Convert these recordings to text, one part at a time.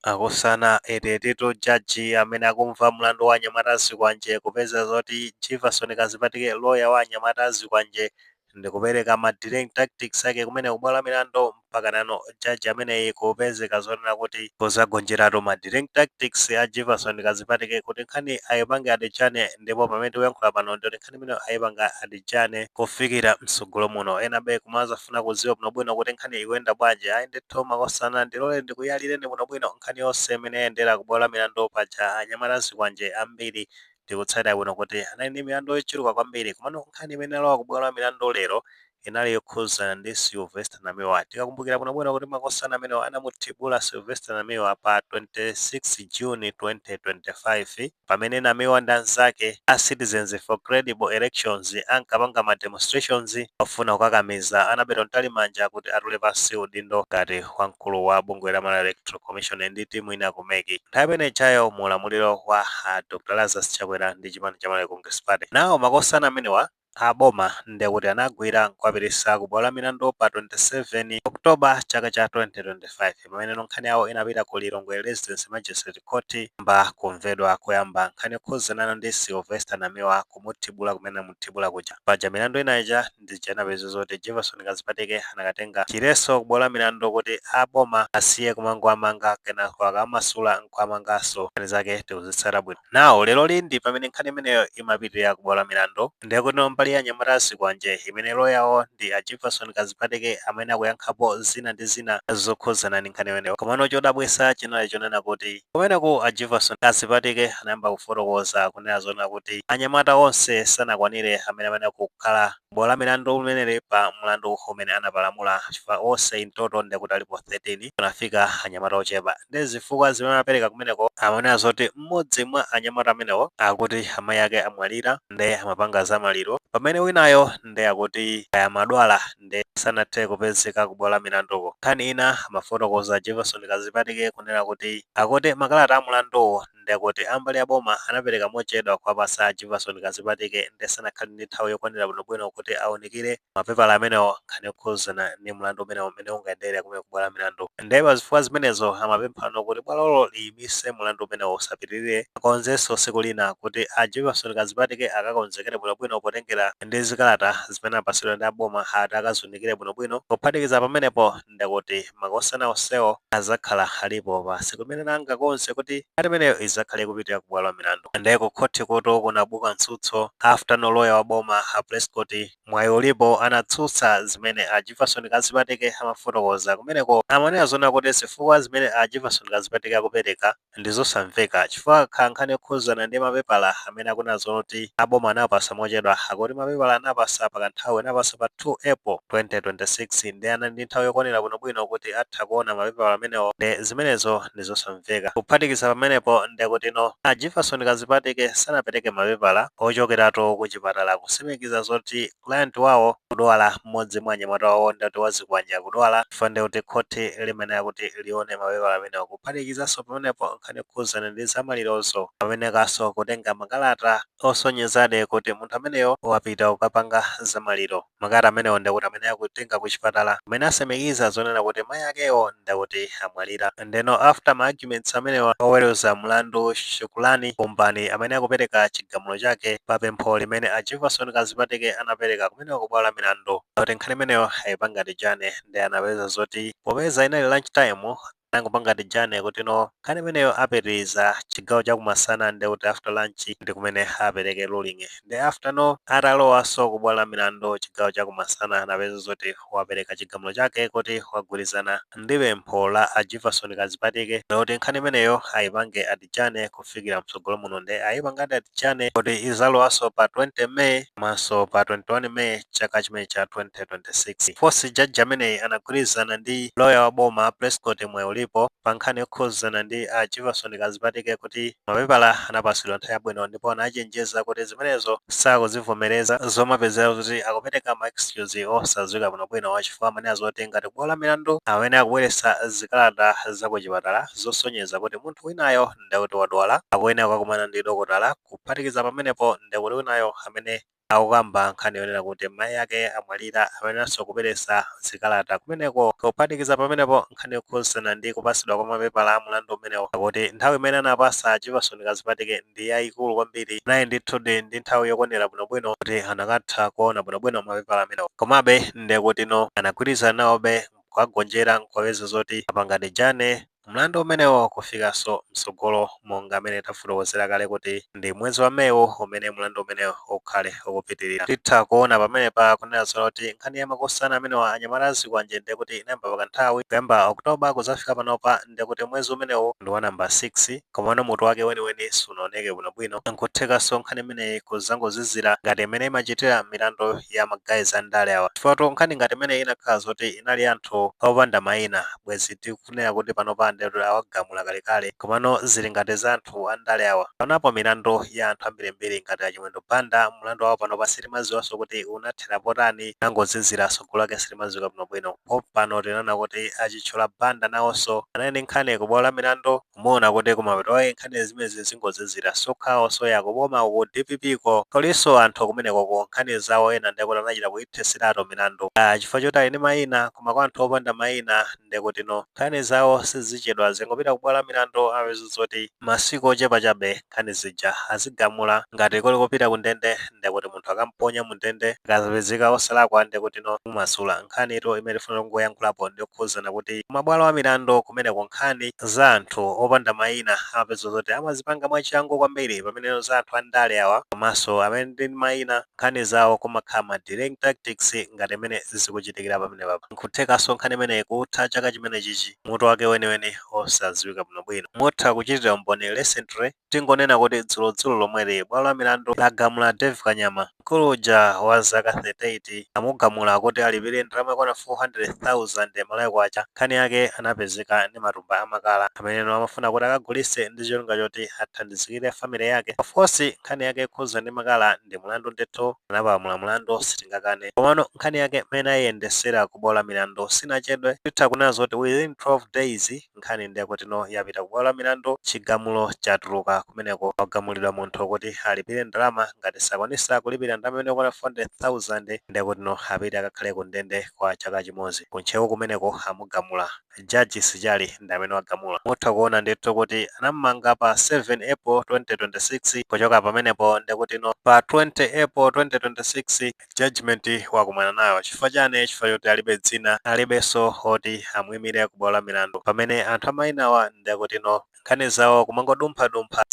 Makosana ndetu judge amene akumva mlandu wa anyamata azikwanje kupezeka zoti Jivason Kazipatike lawyer wa anyamata azikwanje ndikupereka ma delaying tactics ake kumene kubwalo la milandu mpaka nano judge ameneyi kupezeka zonena kuti kuzagonjeratu ma delaying tactics a Jivason Kazipatike kuti nkhani ayipange adjourn ndipo pamene tikuyankhula pano ndikuti nkhani imene ayipanga adjourn kufikira msogolo muno ena apa mumazafuna kuziwa bwinobwino kuti nkhani ikuyenda bwanji ayi ndithu makosana ndilole ndikuyalireni bwinobwino nkhani yonse imene yayendera ku bwalo la milandu paja anyamata azikwanje ambiri ndikutsatira bwino kuti anali ndi milandu yochuluka kwambiri komano nkhani imene inalowa ku bwalo la milandu lero inali yokhudzana ndi Sylvester Namiwa. Tikakumbukira bwinobwino kuti makosana amenewa anamuthibula Sylvester Namiwa pa 26 June 2025 pamene Namiwa ndi anzake a Citizens for Credible Elections ankapanga ma demonstrations ofuna kukakamiza Annabel Mtalimanja kuti atule pansi udindo ngati wamkulu wa bungwe la Malawi Electoral Commission ndi timu ina ku mec nthawi imene ijayo mu ulamuliro wa a Dr Lazarus Chakwera ndi chipani cha Malawi Congress Party. Nawo makosana amenewa a boma ndiye kuti anawagwira n'kuwapititsa ku bwalo la milandu pa 27 October chaka cha 2025 pameneno nkhani yawo inapita ku Lilongwe Resident Magistrate Court kuyamba kumvedwa koyamba nkhani yokhudzanana ndi Sylvester Namiwa kumuthibula kumene anamuthibula kuja. Paja milandu ina ija ndi ija inapezeka zoti Jivason Kazipatike anakatenga chiletso ku bwalo la milandu kuti a boma asiye kumangowamanga kenako akawamasula n'kuwamanganso. Nkhani zake tikuzitsatira bwino. Now leroli ndi pamene nkhani imeneyo imapitirira ku bwalo la milandu. Ndiye kutino mbali ya anyamata azikwanje imene lawyer wawo ndi a Jivason Kazipatike amene akuyankhapo zina ndi zina zokhudzana ndi nkhani imeneyo. Komano chodabwitsa chinali chonena kuti kumeneku a Jivason Kazipatike anayamba kufotokoza kunena zonena kuti anyamata onse sanakwanire amene amayenera kukhala Bwalo la milandu limeneli pa mulandu umene anapalamula chifukwa onse in total ndekut alipo 13 panafika anyamata ochepa nde zifukwa zimene anapeleka kumeneko amanena zoti mmodzi mwa anyamata amenewo akuti amayi ake amwalira nde amapanga za maliro pamene winayo nde akuti kaya amadwala nde sanathe kupezeka ku bwalo la milanduko. Nkhani ina amafotokoza a Jivason Kazipatike kunena kuti akuti makalata a mulanduwu ndekuti a mbali ya boma anapereka mochedwa kuwapatsa a Jivason Kazipatike nde sanakhale ndi nthawi yokwanira bwinobwino kuti aunikire ma pepala amenewo nkhani yokhudzana ndi mlandu umenewo mmene ungayendere kumene ku bwalo la milandu. Nde pa zifukwa zimenezo amapemphano kuti bwalolo liyimitse mlandu umenewo usapitirire, akonzenso tsiku lina kuti a Jivason Kazipatike akakonzekere bwinobwino potengera ndi zikalata zimene anapatsidwa ndi a boma ati akaziunikire bwinobwino. Kuphatikiza pamenepo. ndikuti makosana onsewo azakhala alipo basi kumene nanga konse kuti ngati imeneyo izakhale ikupitira ku bwalo la milandu nde ku khothi kutu kunabuka mtsutso after no loya wa boma a Prescott Mwayiulipo anatsutsa zimene a Jivason Kazipatike amafotokoza kumeneko amanena zonena kuti zifukwa zimene a Jivason Kazipatike akupereka ndizosamveka chifukwa kakhala nkhani yokhuzana ndi mapepala amene akunena zoti aboma anawapasa mochedwa akuti mapepala anawapasa pakanthawi anawapasa pa 2 April 2026 nde anali ndi nthawi yokwanira bwinobwino kuti atha kuona mapepala amenewo nde zimenezo ndizosamveka kuphatikiza pamenepo ndekutino a Jivason Kazipatike sanapereke mapepala ochokeratu kuchipatala kusimikiza zoti client wawo akudwala mmodzi mwa anyamata wawo ndekuti Wazikwanje akudwala chifukwa ndi kuti khothi limayenera kuti lione mapepala amenewo kuphatikizanso pamenepo nkhani yokhuzana ndi zamalirozo amayenekanso kutenga makalata osonyezadi kuti munthu ameneyo wapita kukapanga zamaliro makalata amenewo ndekuti amayeneka kutenga kuchipatala amene akusimikiza zonena kuti mayi akewo ndekuti amwalira Ndeno after ma arguments amenewa, oweruza mlandu Shukuran Kumbani amayeneka kupereka chigamulo chake pa pempho limene a Jivason Kazipatike anapereka kumeneko ku bwalo la milandu kuti nkhani imeneyo ayipange adijane ndiye anapeza zoti popeza inali lunch time anangopanga adijane kuti no nkhani imeneyo apitirize chigawo chakumasana ndi kuti after lunch ndi kumene apereke ruling ndiye after no atalowanso ku bwalo la milandu chigawo chakumasana anapeza zoti wapereka chigamulo chake kuti wagwirizana ndi pempho la a Jivason Kazipatike loti nkhani imeneyo ayipange adijane kufikira mtsogolo muno nde ayipangadi adijane kuti izalowanso pa 20 May komanso pa 21 May chaka chimene cha 2026. Fosi jaji ameneyu anagwirizana ndi loya wa boma a Prescott Mwayiulipo pa nkhani yokhuzana ndi a Jivason Kazipatike kuti Mapepala anapatsidwa nthawi yabwino ndipo anachenjeza kuti zimenezo sakuzivomereza, zomapezeka kuti akupereka ma excuse osadziwika bwinobwino chifukwa amayenera zoti ngati kubwalo la milandu amayeneka kubweretsa zikalata za kuchipatala zosonyeza kuti munthu winayo ndekuti wadwala akuyenera kukakumana ndi dokotala, kuphatikiza pamenepo ndekuti winayo amene akukamba nkhani yonena kuti mayi ake amwalira amayeneranso kubweresa zikalata kumeneko. Kuphatikiza pamenepo, nkhani yokhuzana ndi kupasidwa kwa mapepala a mulandu umenewo akuti nthawi imene anapasa a Jivason Kazipatike ndi yayikulu kwambiri, anali ndithudi ndi nthawi yokwanira bwinobwino kuti anakatha kuona bwinobwino mapepala amenewo. Komabe, ndekutino anagwirizana nawobe mkuwagonjera mkuwaweza zoti apanga adijane. Mlandu umenewo ukufikanso mtsogolo monga mene tafotokozera kale kuti ndi mwezi wa May uwu umene mlandu umenewu ukhale ukupitilira. Titha kuona pamenepa kunena zoona kuti nkhani ya makosana amenewa anyamata a zikwanje ndiye kuti inayamba pa kanthawi, kuyamba October kuzafika panopa ndiye kuti mwezi umenewu ndi wa number 6 komano mutu wake weniweni sunaoneke bwino bwino. Nkuthekanso nkhani imeneyi kuzangozizira ngati mene imachitira milandu ya ma guys a ndale awa chifukwatu nkhani ngati imeneyi inakhala zoti inali ya anthu opanda maina bwezi ti. tikunena kuti panopa ndiye kuti awagamula kalekale komano zili ngati za anthu andale awa panopo milandu ya anthu ambirimbiri ngati a Chimwendo Banda mlandu wawo panopa sitimadziwanso kuti unathera potani unangozizira tsogolo lake silimadziwika bwinobwino pompano tinaona kuti a Chitchula Banda nawonso anali ndi nkhani ku bwalo la milandu umaona kuti kumapeto ake nkhani zimenezi zingozizira so kwawonso ya ku boma ku dpp ko kulinso anthu kumenekoko nkhani zawo ena ndekuti anachita kuithetseratu milandu chifukwa choti ali ndi mayina koma kwa anthu opanda mayina ndekutino nkhani zawo sizichedwa zingopita kubwalo lamilandu upeza zoti masiku ochepa chabe nkhani zija azigamula ngati kuli kopita kundende ndekuti munthu akamponya mundende akazapezeka osalakwa ndekutino kumumasula. Nkhanitu imene tifuna kungoyankhulapo ndiyokhuzana kuti kumabwalo amilandu kumeneko nkhani za anthu opanda mayina upeza zoti amazipanga mwachangu kwambiri pameneno za anthu andale awa komanso amene ali ndi mayina nkhani zawo kumakhala ma delaying tactics ngati mmene zikuchitikira pamenepapa. N'kuthekanso nkhani imeneyi kutha chaka chimenechichi mutu wake weniweni osadziwika bwinobwino. Mutha kuchitira umboni recently, tingonena kuti dzulodzulo lomweli bwalo la milandu lagamula Dave Kanyama, mkulu uja wa zaka 38, lamugamula kuti alipire ndalama yokwana MK400,000, nkhani yake anapezeka ndi matumba a makala ameneno amafuna kuti akagulitse ndi cholinga choti athandizikire family yake. Of course, nkhani yake yokhuza ndi makala ndi mlandu ndithu, anapalamula mlandu sitingakane. Komano nkhani yake mmene ayiyendesera ku bwalo la milandu sinachedwe, titha kunena zoti within 12 days nkhani ndiye kutino yapita ku bwalo la milandu chigamulo chatuluka kumeneko wagamulidwa munthu kuti alipire ndalama ngati sakwanisa kulipira ndalama imene yokwana 400,000 ndiye kutino apite akakhale ku ndende kwa chaka chimodzi. Ku Ntcheu kumeneko amugamula. Judge Sichali ndi amene wagamula. Mutha kuona ndithu kuti anamumanga pa 7 April 2026 kuchoka pamenepo ndekutino pa 20 April 2026 judgement wakumana nayo chifukwa chani? Chifukwa choti alibe dzina, alibenso oti amuimire ku bwalo la milandu pamene anthu a mainawa ndekutino. nkhani zawo kumangodumphadumpha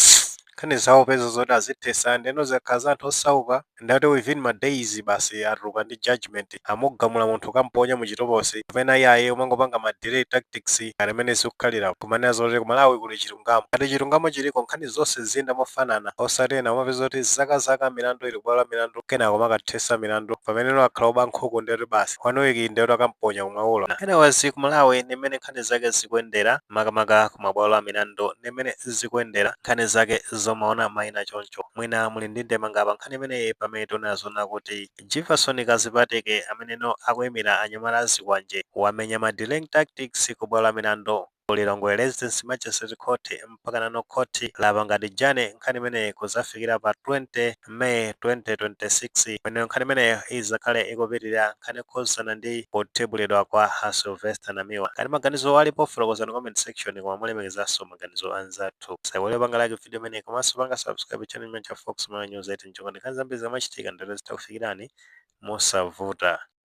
nkhani zawo upeza zoti azithesa ndeno zikakhala za anthu osauka ndeti within ma days basi atuluka ndi judgement amugamula munthu kukamponya mu chitokosi koma enawa iyayi kumangopanga ma delay tactics ngati mmene zikukhalira nkumanena zoti ku malawi kuli chilungamo ngati chilungamo chiliko nkhani zonse ziziyenda mofanana osati ena umapeza zoti zakazaka milandu ili kubwalo la milandu kenako kumakathesa milandu pamene ena akakhala oba nkhuku ndeti basi one week ndeti akamponya kumwaulo anyways ku malawi ndi mmene nkhani zake zikuyendera makamaka ku mabwalo a milandu ndi mmene zikuyendera nkhani zake zomaona maina choncho mwina muli ndi ndemanga pa nkhani imeneyi pamene tionera zoona kuti Jefferson Kazipatike ameneno akuimira anyamata a Zikwanje wamenya ma delaying tactics ku bwalo la milandu ku Lilongwe Resident Magistrate Court mpaka nano khoti lapanga adjourn nkhani imeneyi kudzafikira pa 20 May 2026 pamene nkhani imeneyo idzakhale ikupitirira nkhani yokhudzana ndi kuthibulidwa kwa a Sylvester Namiwa. Ngati maganizo alipo fotokozani comment section koma molemekezanso maganizo a anzathu. Musaiwale kupanga like video imeneyi komanso panga subscribe channel chimenechi cha Fox Malawi News 8 n'cholinga choti nkhani zambiri zikamachitika ndithu zitha kukufikirani mosavuta.